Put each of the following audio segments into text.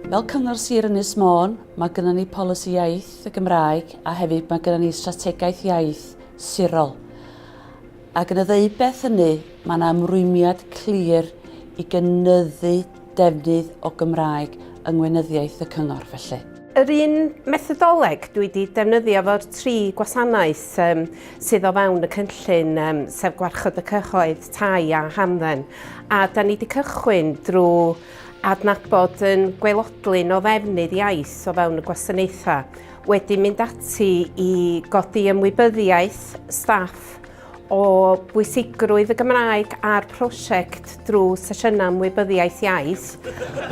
Fel Cyngor Sir Ynys Môn, mae gyda ni polisi iaith y Gymraeg a hefyd mae gyda ni strategaeth iaith sirol. Ac yn y ddeud beth hynny, mae yna ymrwymiad clir i gynyddu defnydd o Gymraeg yng ngweinyddiaeth y Cyngor felly. Yr un methodoleg dwi wedi defnyddio fo'r tri gwasanaeth um, sydd o fewn y cynllun, um, sef gwarchod y cyhoedd, tai a hamdden. A da ni wedi cychwyn drwy adnabod yn gweilodlun o ddefnydd iaith o fewn y gwasanaethau, wedi mynd ati i godi ymwybyddiaeth staff o bwysigrwydd y Gymraeg a'r prosiect drwy sesiynau ymwybyddiaeth iaith.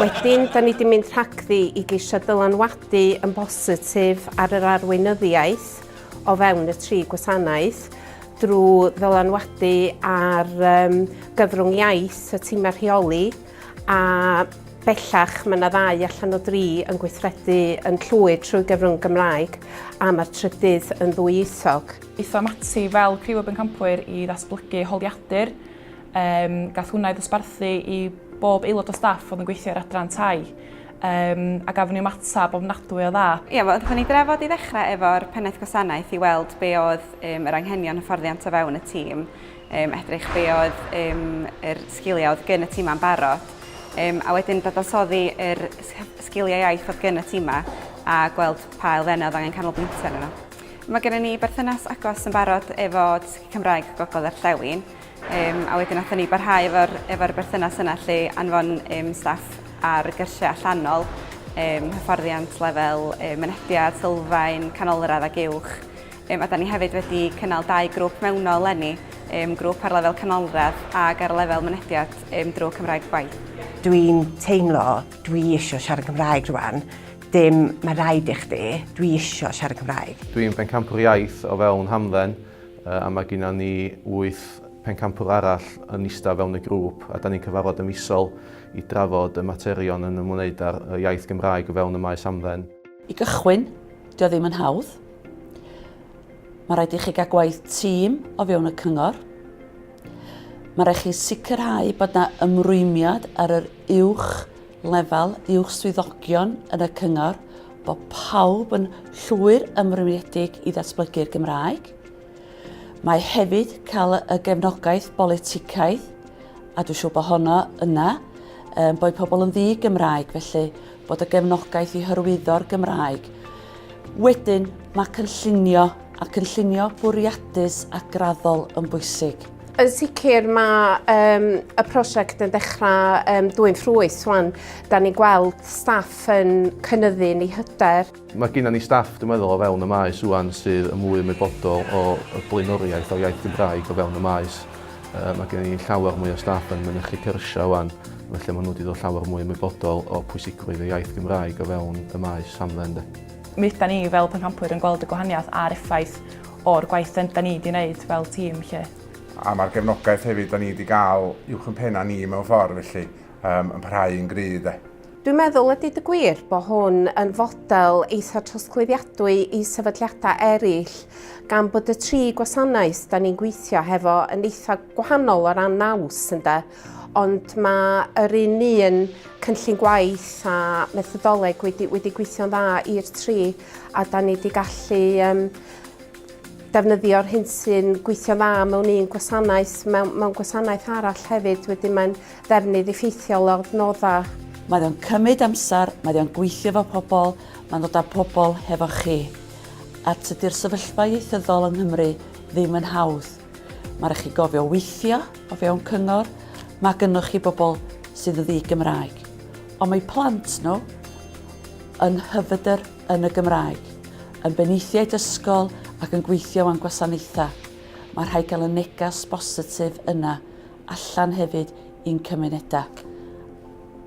Wedyn, da ni wedi mynd rhagddi i geisio dylanwadu yn bositif ar yr arweinyddiaeth o fewn y tri gwasanaeth drwy ddylanwadu ar um, gyfrwng iaith y tîmau rheoli a bellach mae yna ddau allan o dri yn gweithredu yn llwyr trwy gyfrwng Gymraeg a mae'r trydydd yn ddwyieithog. Aethom ati fel criw o bencampwyr i ddatblygu holiadur. Yym, gath hwnna ei ddosbarthu i bob aelod o staff oedd yn gweithio i'r adran tai, yym, a gafon ni ymateb ofnadwy o dda. Ia, wel, gathon ni drafod i ddechrau efo'r Pennaeth Gwasanaeth i weld be oedd yym yr anghenion hyfforddiant o fewn y tîm, yym, edrych be oedd yym yr sgiliau oedd gyn y timau'n barod, yym, a wedyn dadansoddi yr sgiliau iaith oedd gyn y timau a gweld pa elfennau oedd angen canolbwyntio arnyn nhw. Mae gennym ni berthynas agos yn barod efo Dysgu Cymraeg Gogledd Orllewin um, a wedyn nathon ni barhau efo'r efo berthynas yna lle anfon um, staff ar y gyrsiau allanol, um, hyfforddiant lefel um, mynediad, sylfaen, canolradd ac uwch. Um, a da ni hefyd wedi cynnal dau grŵp mewnol lenni, um, grŵp ar lefel canolradd ac ar lefel mynediad um, drwy Cymraeg Gwaith. Dwi'n teimlo dwi eisiau siarad Cymraeg rwan, Dim, mae rhaid i chdi. Dwi isio siarad Cymraeg. Dwi'n bencampwr iaith o fewn hamdden a mae gennym ni wyth pencampwr arall yn eistedd fewn y grŵp a da ni'n cyfarfod y misol i drafod y materion yn ymwneud â'r iaith Gymraeg o fewn y maes hamdden. I gychwyn, dio ddim yn hawdd. Mae rhaid i chi gael gwaith tîm o fewn y cyngor. Mae rhaid chi sicrhau bod na ymrwymiad ar yr uwch lefel uwch swyddogion yn y cyngor bod pawb yn llwyr ymrwymiedig i ddatblygu'r Gymraeg. Mae hefyd cael y gefnogaeth boliticaidd, a dwi'n siŵr bod honno yna, um, bod pobl yn ddi Gymraeg, felly bod y gefnogaeth i hyrwyddo'r Gymraeg. Wedyn, mae cynllunio a cynllunio bwriadus a graddol yn bwysig. Yn sicr mae um, y prosiect yn dechrau um, dwy'n ffrwyth swan. Da ni'n gweld staff yn cynyddu ni hyder. Mae gennym ni staff, dwi'n meddwl, o fewn y maes swan sydd yn mwy ymwybodol o y blaenoriaeth o iaith Gymraeg o fewn y maes. Uh, mae gennym ni llawer mwy o staff yn mynychu cyrsiau swan, felly maen nhw wedi dod llawer mwy ymwybodol o pwysigrwydd y iaith Gymraeg o fewn y maes hamdden. Mi ydan ni fel pencampwyr yn gweld y gwahaniaeth a'r effaith o'r gwaith 'da da ni 'di neud fel tîm 'lly. A ma'r gefnogaeth hefyd 'da ni 'di ga'l uwch 'yn pena ni mewn ffordd felly, yym yn parhau yn gry' 'de. Dwi'n meddwl a deud y gwir bo hwn yn fodel eitha' trosglwyddiadwy i sefydliada' eryll gan bod y tri gwasanaeth 'da ni'n gweithio hefo yn eitha' gwahanol o ran naws ynde? Ond mae yr un un cynllun gwaith a methodoleg wedi, wedi gweithio'n dda i'r tri a da ni wedi gallu um, defnyddio'r hyn sy'n gweithio'n dda mewn un gwasanaeth, mewn, mewn gwasanaeth arall hefyd, wedyn mae'n ddefnydd effeithiol o'r noddau. Mae o'n cymryd amser, mae o'n gweithio efo pobl, mae'n dod â pobl hefo chi. A tydi'r sefyllfa ieithyddol yng Nghymru ddim yn hawdd. Mae rhaid chi gofio weithio o fewn cyngor, mae gynnwch chi bobl sydd yn ddi-Gymraeg, ond mae plant nhw yn hyfydr yn y Gymraeg, yn beneithiaid ysgol ac yn gweithio am gwasanaethau. Mae rhaid cael y negas bositif yna allan hefyd i'n cymunedau.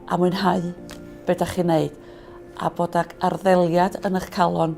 A mwynhau beth da chi'n neud a bod ag arddeliad yn eich calon